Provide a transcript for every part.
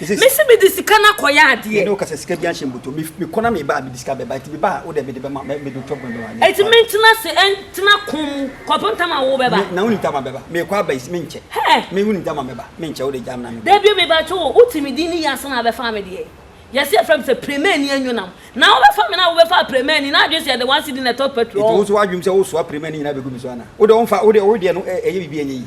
mesi mi de sika na kɔyɛ adeɛ. yɛn de ɔkasa sika bi ahyɛ mbuto mi mi kɔ na mi ba a mi de sika bɛba eti mi ba a o de mi de bɛma mi de tɔpɔ bɛma mi. eti mi ntena se ntena kun mu kɔpem tama wo bɛba. na wuli tama bɛba mi kɔ aba esi mi nkyɛ. hɛ mi wuli tama bɛba mi nkyɛ o de gya mi na mi. dabi mi ba kye o o ti mi di ni yasa na abɛfa mi deɛ yɛsi efra mi sɛ premɛni enyonam na o bɛfa mi na o bɛfa premɛni na adwene sɛ yɛde one cedi na ɛtɔ petrol. eti wo nso wa adwene mu sɛ o soa premɛni nyinaa bɛ gu mi so ana o de o nfa o de o deɛ no ɛyɛ bibi ɛnyɛ yi.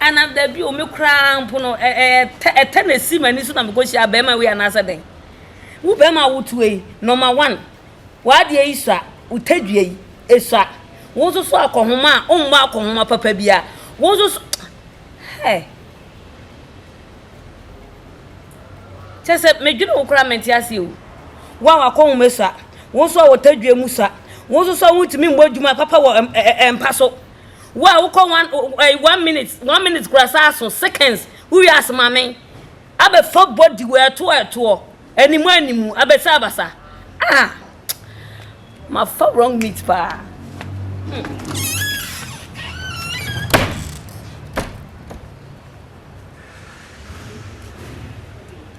Anaa dabi o, me koraa mpo no, ɛtɛ na ɛsi m'ani so na mekɔhyia bɛrima wei anaasɛ dɛn? Wo bɛrima a wotuo yi, nɔma wan, w'adeɛ yi sua, wo tadua yi, ɛsua. Wo nso so akɔnhoma a, wommɔ akɔnhoma papa biara. Wo nso so, hɛ! Kyerɛ sɛ medwene wo koraa mente aseɛ o. Wo a w'akɔnhoma sua, wo nso a wo tadua mu sua, wo nso so a wontumi mmɔ adwuma papa wɔ mpa so. Wo a wokɔ one o- o- ɛyi, one minute, one minute kura saa so seconds, wowie ase ma me. Abɛfa body wɔ ɛtoɔ ɛtoɔ, animu animu, abɛsa abasa. Ah! Mafa wrong meat paa. Hmm.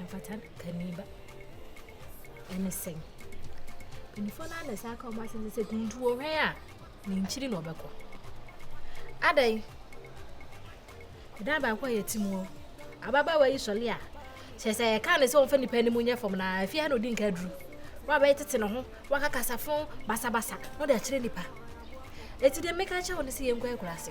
Ɛmfata kani ba ɛne sɛn? Mpanyinfoɔ no ara na ɛsan ka wɔn asɛm sɛ kuntu wɔ hwɛn a ne nkyiri na ɔbɛkɔ. Adɛn? Ɛdan baako a yɛte mu hɔ ababaawa yi sɔle a kyerɛ sɛ yɛka ne sɛ wɔmfa nipa anim nyɛ fam na afie ha na ɔdi nka aduru na wabɛyɛ tete ne ho waka kasafo basabasa na ɔde akyerɛ nipa. Ɛti deɛ meka kyerɛ wo ne sɛ yɛnkɔ akura ase.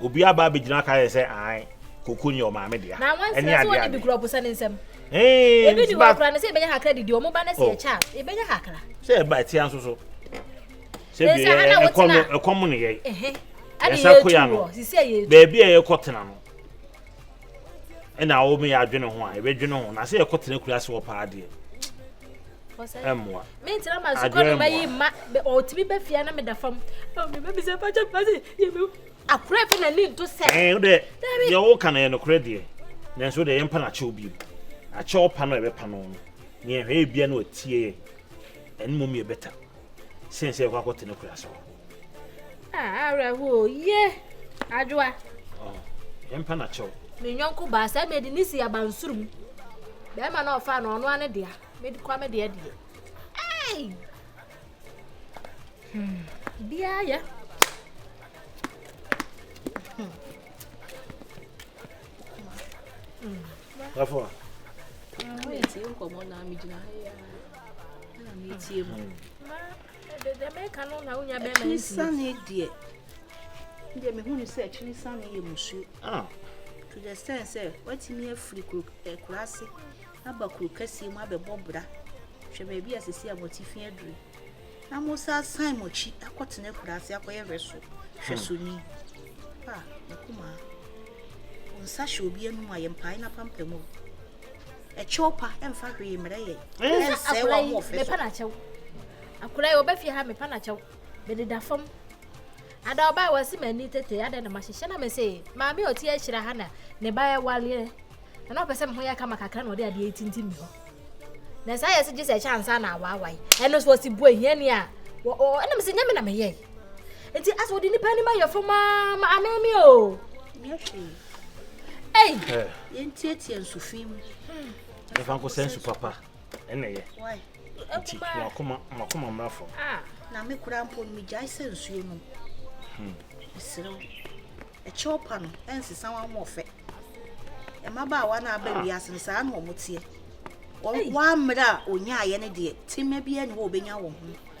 Obi aba abɛgyina aka yɛ sɛ ae koko nyɛ ɔmaame dea. Na wɔn nsira so wɔn de bi kura ɔbosa ne nsam. Ebi ni wɔn kura no sɛ ebɛnya hakra didi wɔn ba no sɛ ɛkyɛ a ebɛnya hakra. Sɛ ɛba ɛtia nso so. Sɛ bi ɛkɔm ɛkɔm ne yɛ. Ɛsa koya no. Baabi a yɛkɔ tena no. ɛna wɔn yɛ adwene ho a yɛbɛdwene ho na sɛ yɛkɔ tena akura ase wɔ paa deɛ ɛmmoa mentena ma sukɔ no mayi ma ɔtumi bɛ fia na meda fam mebɛbisɛ pakyɛ pase yɛmɛ akorɛ fɛ na ne nto sɛ ɛɛ wodɛ deɛ woka no yɛ nokorɛ deɛ nanso wodɛ yɛmpa no akyɛw bio akyɛw pa no a ɛbɛpa no no ne yɛhwɛ yɛ bia no atie ɛne mmom yɛ bɛta sɛn sɛ yɛkɔ akɔtena akura ase hɔ Ah, awerɛhoɔ ye adwoa. Oh, yɛmpa na kyɛw. Me nyɔnko baa sɛ mede ne si abansoro mu. Bɛrima na ɔfaa no ɔno ane dea. Mede kwa me deɛ deɛ. Hey! Hmm, biara yɛ. Hmm. Hmm. Therefore. Ah, wait, you come on now, me jina. Yeah. I'm here. Akyiresane deɛ, me deɛ mehu no sɛ akyiresane yɛ musuo. Ah. To the extent sɛ watumi afiri kuro akuraase eh, aba kuro kɛseɛ mu abɛbɔ bra hwɛ baabi a sisi a motifi aduru na mo sa asan mo akyi akɔtena akuraase akɔyɛ hwɛ so hwɛ so ni ah mekumaa nsa hyɛ obi anum a yɛmpae na pampam o ɛkyɛw pa ɛmfa hwee mmerɛ yɛ ɛnsɛe wɔn ahoɔfɛ so mepɛ n'akyɛw akora yi ɔbɛfie ha mepɛ n'akyɛw mede da fam ada ɔba a wɔasi m'ani tete adɛn na mahyehyɛ na mese maame a ɔti ahyira ha na ne ba ɛwaleɛ na na ɔpɛ sɛ me ho yɛ kama kakra na ɔde adeɛ tintim me hɔ na saa yɛ sɛ gye sɛ ɛkyɛ ansa na awaawae ɛno so ɔsi bu ahiani a ɛnam sɛ nyɛ me na meyɛe Eti asɛ wɔde nipa anim ayɛ fam aa ma amee mi o. Ei! Yɛntietie nsufi mu. Ɛfa nkɔsɛ nsu papa ɛna ɛyɛ. Nti wakoma wakoma mmra fam. Ah, na me kura mpo no megyae sɛ nsuo nom. Hmm. Mesrɛ wo. Ɛkyɛw pa no ɛnsesa wɔn ahoɔfɛ. Mmabaawa no aba wiase no saa na wɔn teɛ. Wɔn wɔn ammerɛ a onyaeɛ no deɛ tema biara ni hɔ a wɔbɛnya wɔn ho.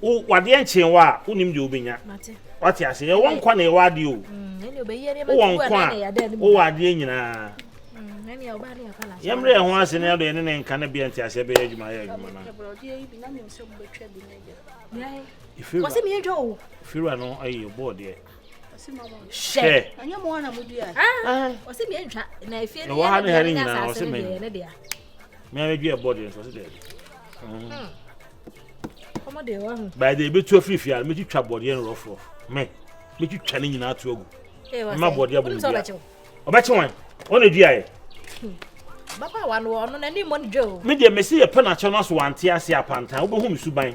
Wo wadeɛ nkyee wo a, wonim deɛ wobɛnya. Wate ase? Yɛwɔ nkwa na yɛwɔ adeɛ o. Mm, Wowɔ nkwa a, wowɔ adeɛ nyinaa. Mm, Yɛmmerɛ yɛn ho ase na yɛde yɛne ne nka ne bea nti aseɛ bɛyɛ adwuma yɛ adwuma no. Firiwa no ayi bɔɔ deɛ. Hyɛ. Ah. Ɛwɔ ha ne ha ne nyinaa ɔsɛ mɛ. Mɛ abɛdua bɔɔ deɛ nso ɔsɛ dɛ. by the ebetu afiri fie a metwitwa bɔdeɛ no rɔf rɔf me metwitwa ne nyinaa to agu mma bɔdeɛ abɔ mu bia ɔbɛkye wɔn wɔn na edua yɛ. bapa wa no ɔno n'ani mmɔ ne dwa o. me deɛ mesi yɛ pɛ n'akyɛ no aso wante ase apantan wobɛhu me suban.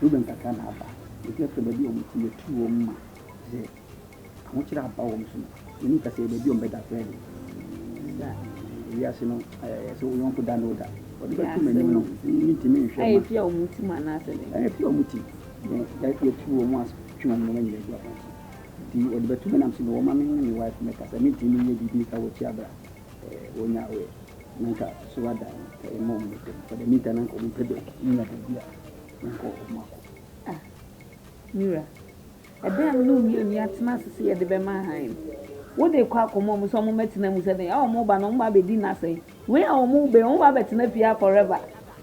Ruben kakra na aba, ntsi ɔkyerɛ beebi a wɔtse, yetu hɔn ma dze ahokyerɛ aba hɔn so no, yennyi kasayi beebi a wɔbɛda koraa dze, osian wiase no ayɛyɛdze sɛ wo yɔnko da na oda, wɔdze bɛto m'enyim no, minntumi nnhwɛ ma. Efi a wɔtse mu anaasɛ dɛn? Ɛɛ, efi a wɔtse mu, na yetu hɔn ase twe hɔn ndzɛmba nyina egu afɔr so, ntsi wɔdze bɛto me na mese ma wɔmma menye me wife mbɛkasa, minntumi nnyɛ biribi nka wɔ ekyir aber a Wɔnya awerɛ na anka so adan no ka yɛn ma wɔn bɛpɛ mu. For the meantime, na anka wɔmpɛ baabi, wɔnya baabi a na anka wɔpɛ mu akɔ. Ah, me wura, ɛdɛn a me ne wo mmienu yɛatena ase sɛ yɛde bɛma hann no? Wo de kɔ akɔma wɔn sɛ wɔmmɛtena mu sɛ dɛn? A wɔba no, wɔba abɛdi nna sɛn? Wei a wɔba yi, wɔba abɛtena fie ha forever?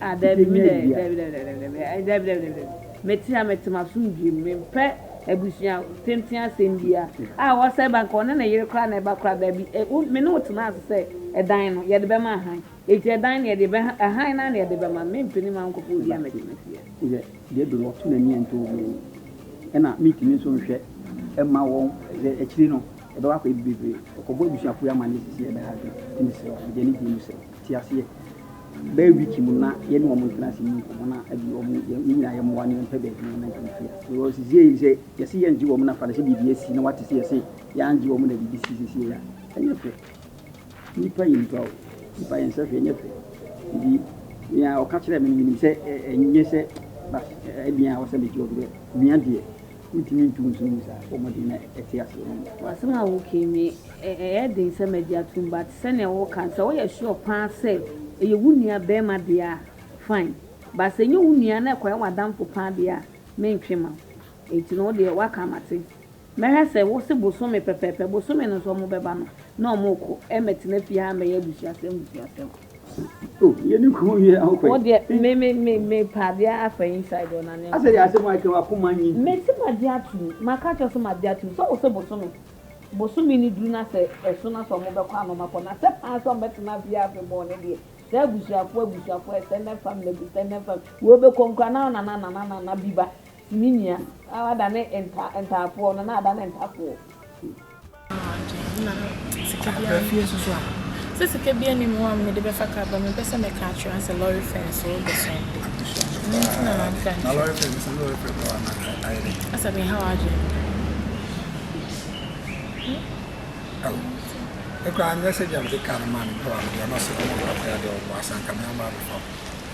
Ah, dabi, me dɛ, dabi, dabi, dabi, dabi, dabi, eh, dabi, dabi, dabi, dabi. Mete ha, mete m'asomdwoe mu, mempɛ abusua tenten asɛm bia. Ah, wɔsɛ ba nka ɔne ne yere koraa na ɛba koraa, dabi, eh, wo, me ne wo tena ase sɛ ɛdan no, yɛde bɛma ahan. Enti ɛdan no yɛde bɛ, ahan no ara na yɛde bɛma, mempɛ ni ma wo nkɔfa obi a mɛte me fie. Yɛ, deɛ do no ɔto n'ani ɛnto obi ani. Ɛna mentumi nso nhwɛ ɛma wɔn, sɛ akyiri no, ɛbɛba akɔyɛ bebree. Ɔkɔbɔ abusuafoɔ yi amanneɛ sisi ɛbɛha adwene. Nti mesrɛ wo, mede anigyeɛ mu srɛ wo. te aseɛ. Bɛyɛ week mu no na yɛne wɔn ntena ase ni nkɔmmɔ na ɛde wɔn yɛn nyinaa yɛn mmoa ne yɛn pɛ baabi na yɛn ntoma firi ase. Because sisi yɛ sɛ yɛsi yɛn gye wɔn na fa na sɛ biribi asi na wate sɛ yɛsi yɛn gye wɔn na biribi si sisi yɛ ɛnyɛ fɛ. Nipa yɛ nipa o, nipa yɛn sɛ hwɛ ɛnyɛ fɛ. Nti nea ɔka kyerɛ mi no mi nim sɛ ɛnyɛ sɛ bas ɛdeɛn a wɔsɛ mi gye wɔn dɛ nua deɛ Wontumi ntu nso ngu saa bɔ mmɔden na ɛte ase wɔ me. W'asɛm a wokae me ɛyɛ den sɛ magye atom but sɛnea woka no sɛ woyɛ sure paa sɛ ɛyɛ wo nua bɛɛma deɛ a fine but sɛ ɛnyɛ wo nua na ɛkɔyɛ w'adamfo paa deɛ a mentwe ma wo enti no wodeɛ woaka mate mɛhwɛ sɛ wose bosome pɛpɛɛpɛ bosome no nso wɔbɛba no na wɔkɔ ɛmɛtena fie ha mmɛyɛ abusuasɛm busuasɛm. Wo deɛ me me me me pɛ adeɛ afa inside hɔ na ne nkɔ. Me se ma gye ato mu, ma ka kyerɛ so ma gye ato mu sɛ wo se bosome bosome no duru na sɛ ɛso na sɛ ɔmo bɛkɔ a na ɔmo akɔ na sɛ paa sɛ ɔmo bɛtena fie afe bɔɔ ne deɛ saa abusuafoɔ abusuafoɔ ɛsɛ nɛ fam na ɛbu sɛ nɛ fam wei bɛkɔ nkura na nana nana nana bi ba Ne nua na wadane nta ntaafoɔ no na adane ntafoɔ. Sɛ sika bi anim hɔ a mede bɛfa kaa ba mempɛ sɛ mɛka akyerɛ wɔn sɛ lɔre fɛn so de so ade ɛno nti na mamfa nkyerɛ asa menha w'adwene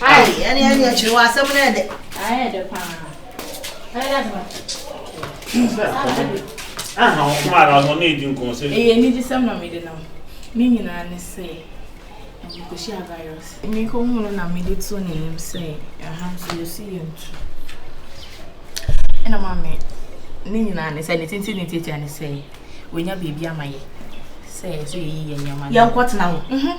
Ayi, ɛne ɛne akyiri wɔ asɛm no ɛdɛ. Ayɛ ɛdɛ paa. Ayɛ dɛ paa. Aha, ɔkoma ara ɔno ne edi nkɔn sɛ. Ɛyɛ ne di sɛm na mede nam. Ne nyinaa ne sɛ mekɔhyia virus. Mekɔhu no na mede to n'anim sɛ aha nso yɛsi yɛ ntu. Ɛna maame ne nyinaa ne sɛ ne tete ne tete ne sɛ wɔnya biribi ama yɛ sɛ yɛsɛ yɛyi yɛ nneɛma. Yɛnkɔtena hɔ. Mhm.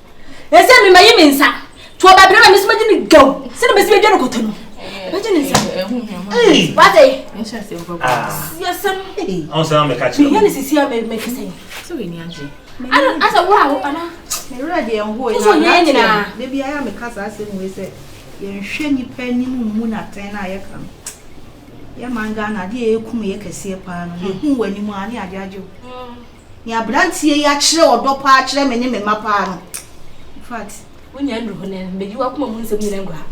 ɛsɛ me mayi me nsa to ɔba bere ma me so magye ne gaw sɛne bɛsi bɛdwa no kɔtɔ no bɛgye ne nsa wate yɛsɛm meyɛ ne sisi a mɛka sɛ asɛ wo a wo ana mewerɛ deɛ nhoe so yɛ nyinaa da biara meka saa asɛm wei sɛ yɛnhwɛ nnipa anim mmu no atɛn no a yɛka no yɛman ghana adeɛ yɛkum yɛ kɛseɛ paa no yɛhu w'anim a ne adeagyew Nea abranteɛ yi akyerɛ ɔdɔ paa kyerɛ me ne me mma paa no, infact. Wo nua nnuru hɔ nnɛ, medi w'akoma mu nsɛm nyinaa agu ha.